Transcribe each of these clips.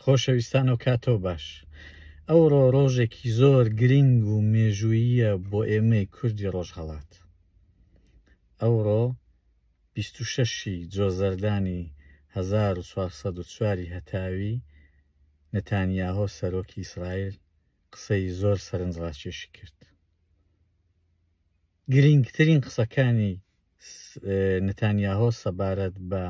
خۆشەویستان و کاتەوە باش ئەوڕۆ ڕۆژێکی زۆر گرنگ و مێژووییە بۆ ئێمەی کوردی ڕۆژهەڵات ئەوڕۆ 26 جۆزەردانی 1940 هەتاوی نەتانیاهۆ سەرۆکی ئیسرائیل قسەی زۆر سەرنجڕاکێشی کرد گرنگترین قسەکانی نتانیاهۆ سەبارەت بە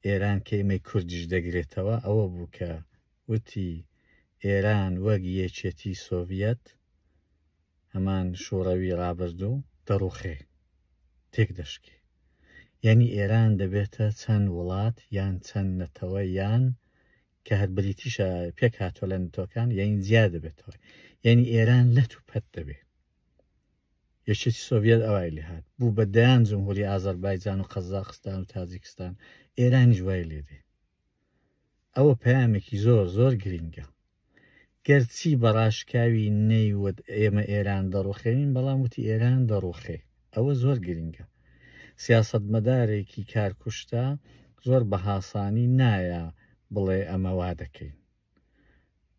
ئێران کەیمەی کوردیش دەگرێتەوە ئەوە بوو کە وتی ئێران وەک یەکێتی سۆڤەت هەمان شوڕەوی ڕابردوو دەڕوخێ تێک دەشکێ یعنی ئێران دەبێتە چەند وڵات یان چەند نەتەوە یان کە هەر بریتیشە پێک هاتووە لە نتۆکان یعنی زیاد دەبێتەوە یعنی ئێران لەت و پەت دەبێت یەکێتی سۆڤیەت ئەوای لێهات بوو بە دەیان جمهوری ئازەربایجان و قەزاقستان و تاجیکستان ئێرانیش وای لێدێ ئەوە پەیامێکی زۆر زۆر گرینگە گەرچی بەڕاشکاوی نەیوت ئێمە ئێران دەڕوخێنین بەڵام وتی ئێران دەڕوخێ ئەوە زۆر گرینگە سیاست مەدارێکی کارکوشتە زۆر بە هاسانی نایە بڵێ ئەمە وا دەکەین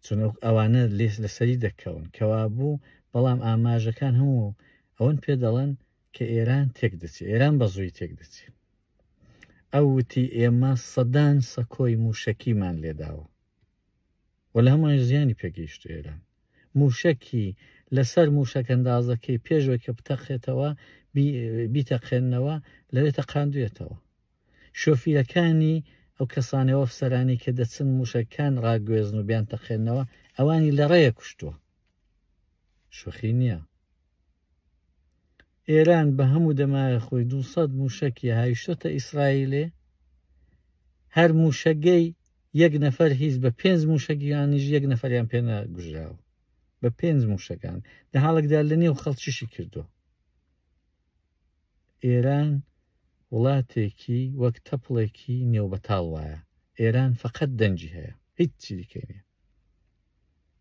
چونک ئەوانە لێس لەسەری دەکەون کەوابوو بەڵام ئاماژەکان هەموو ئەوەن پێ دەڵێن کە ئێران تێک دەچێت ئێران بە زووی تێک دەچێت ئەو وتی ئێمە سەدان سەکۆی موشەکیمان لێداوە و لە هەمووان زیانی پێگەیشت ئێران موشەکی لەسەر موشەکەندازەکەی پێشوەی کە بتەقێتەوە بیتەقێنەوە لەوێ تەقاندوێتەوە شۆفیرەکانی ئەو کەسانەو ئەفسەرانەی کە دەچن موشەکەکان ڕاگوێزن و بیانتەقێنەوە ئەوانی لەڕێیە کوشتووە شوخی نییە ئێران بە هەموو دەمایە خۆی 200 موشەکی هایشتە ئیسرائیلێ هەر موشەگەی یەک نەفەر هیچ بە پێنج موشەگیانیش یەک نەفەریان پێنە گوژراوە بە پێنج موشەکان لە حاڵکدا لە نێو خەڵکیشی کردووە ئێران وڵاتێکی وەک تەپڵێکی نێو بەتاڵ وایە ئێران فەقەت دەنگی هەیە هیچ چیدیکەی نیە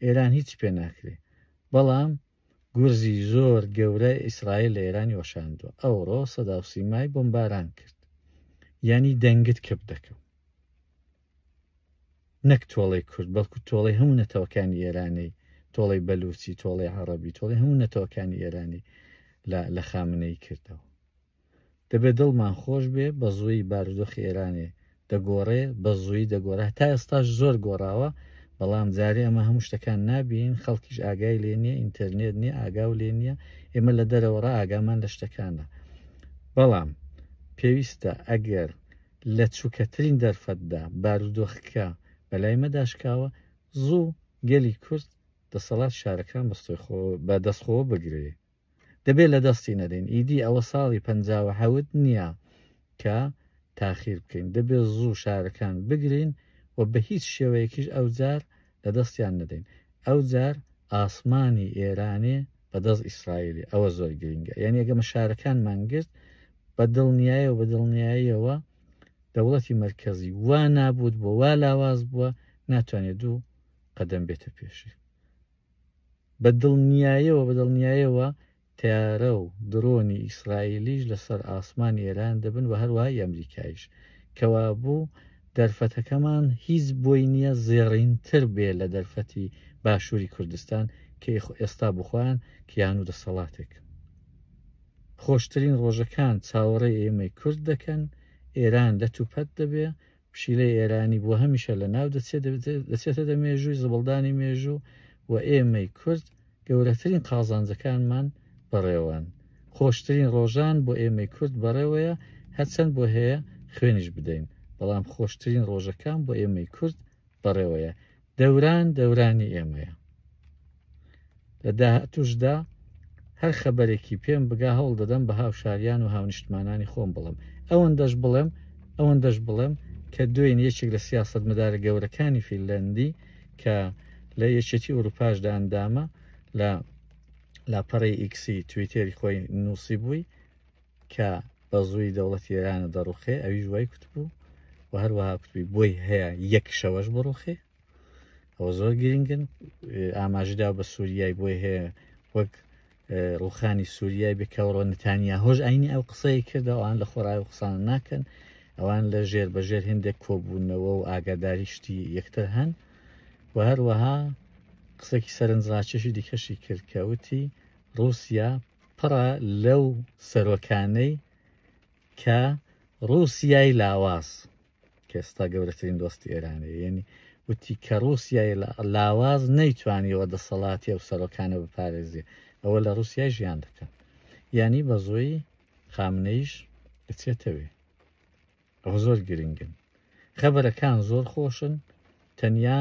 ئێران هیچ پێ ناکرێ بەڵام گورزی زۆر گەورە ئیسرائیل لە ئێرانی وەشاندووە ئەوڕۆ سەداوسیمای بۆمباران کرد یعنی دەنگت کپ دەکەم نەک تۆڵەی کورد بەڵکو تۆڵەی هەموو نەتەوەکانی ئێرانەی تۆڵەی بەلوچی تۆڵەی عربی تۆڵی هەموو نەتەوەکانی ئێرانی لە خامنەی کردەوە دەبێ دڵمان خۆش بێ بە زووی بارودۆخ ئێرانێ دەگۆڕێ بە زووی دەگۆڕە تا ئێستاش زۆر گۆڕاوە بەڵام جارێ ئەمە هەموو شتەکان نابین خەڵکیش ئاگای لێ نییە ئینتەرنێت نییە ئاگاو لێ نییە ئێمە لە دەرەوەڕ ئاگامان لە شتەکانە بەڵام پێویستە ئەگەر لە چوکەترین دەرفەتدا بارودۆخکە بەلای مەدا شکاوە زوو گەلی کورد دەسەڵات شارەکان بە دەستخۆوە بگرێ دەبێت لە دەستی نەدەین ئیدی ئەوە ساڵی پەنجاوە حەوت نییە کە تاخیر بکەین دەبێت زوو شارەکان بگرین و بە هیچ شێوەیەکیش ئەوجار لە دەستیان نەدەین ئەو جار ئاسمانی ئێرانێ بە دەست ئیسرائیلی ئەوە زۆر گرینگە یان یەگە مشارەکان مانگرت بە دڵنیایە و بە دڵنیاییەوە دەوڵەتی مرکزی وا نابوت بۆ وا لاواز بووە ناتوانێت دوو قەدەم بێتە پێشی بە دڵنیایەوە بە دڵنیایەوە تەیارە و دڕۆنی ئیسرائیلیش لەسەر ئاسمانی ئێران دەبن و هەروەهای ئەمریکایش. کەوابوو دەرفەتەکەمان هیچ بۆی نییە زێڕینتر بێ لە دەرفەتی باشووری کوردستان کە ئێستا بۆ خۆیان کیان و دەسەڵاتێک. خۆشترین ڕۆژەکان چاوەڕێی ئێمەی کورد دەکەن، ئێران لەتوپەت دەبێ پشیلەی ئێرانی بۆ هەمیشە لە ناو دەچێت دەچێتە دە مێژووی زبڵدانی مێژوو و ئێمەی کورد گەورەترین قازانجەکانمان بەڕێوەن خۆشترین ڕۆژان بۆ ئێمەی کورد بەڕێوەیە هەرچەند بۆ هەیە خوێنیش بدەین بەڵام خۆشترین ڕۆژەکان بۆ ئێمەی کورد بەڕێوەیە دەوران دەورانی ئێمەیە لە داهاتوشدا هەر خەبەرێکی پێم بگا هەوڵ دەدەم بە هاوشاریان و هاونیشتمانانی خۆم بڵم ئەوەن دەش بڵێم ئەوەن دەش بڵێم کە دوێن یەکێک لە سیاست مدارە گەورەکانی فیلەندی کە لە یەکێتی ئەوروپاشدا ئەندامە لە لاپەڕی ئیکسی تویتێری خۆی نووسی بووی کە بەزووی دەوڵەتی ئێرانە دەڕوخێ ئەویش وای کوتبوو و هەروەها کوتبی بۆی هەیە یەک شەوەش بڕوخێ ئەوە زۆر گرنگن ئاماژدا بە سووریای بۆی هەیە وەک ڕوخانی سووریای بکەوڕۆ نتانیا هۆش ئاینی ئەو قسەی کردە ئەوان لە خۆراوی قسان ناکەن ئەوان لە ژێر بەژێر هندێک کۆبوونەوە و ئاگاداری شتی یەکتر هەن و هەروەها قسەکی سەرنجڕاکێشی دیکەشی کرد کەوتی رووسیا پڕە لەو سەرۆکانەی کە ڕووسیای لاواز کەستا گەورەترین دۆستی ئێرانە یعنی وتی کە ڕووسیای لاواز نەیتوانیەوە دەسەڵاتی ئەو سەرۆکانە بپارێزی ئەوە لە ڕووسیا ژیان دەکەن ینی بە زۆی خامنەیش بچێتەوێ ئەوە زۆر گرنگن خەبەرەکان زۆر خۆشن تەنیا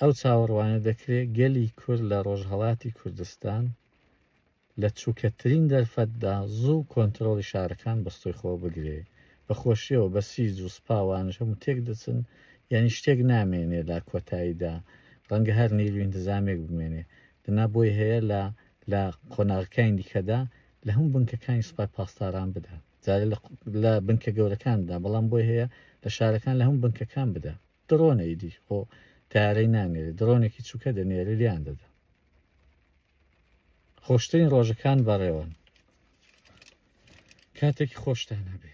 ئەو چاوەڕوانە دەکرێت گەلی کورد لە ڕۆژهڵاتی کوردستان لە چووکەترین دەرفەتدا زوو کۆنترۆڵی شارەکان بەستۆی خۆ بگرێ بە خۆشیەوە بەسیج و سپا وانش هەموو تێک دەچن یانی شتێک نامێنێ لە کۆتاییدا ڕەنگە هەر نیروی ئینتزامێک بمێنێ دەنا بۆی هەیە لە لە قۆناغەکانی دیکەدا لە هەموو بنکەکانی سوپای پاسداران بدا جارێ لە لە بنکە گەورەکاندا بەڵام بۆی هەیە لە شارەکان لە هەموو بنکەکان بدا. دڕۆنە ئیدی خۆ تارەی نانێرێ دڕۆنێکی چووکە دەنێرە لیان دەدا خۆشترین ڕۆژەکان بەڕێوەن کاتێکی خۆشتان هەبێ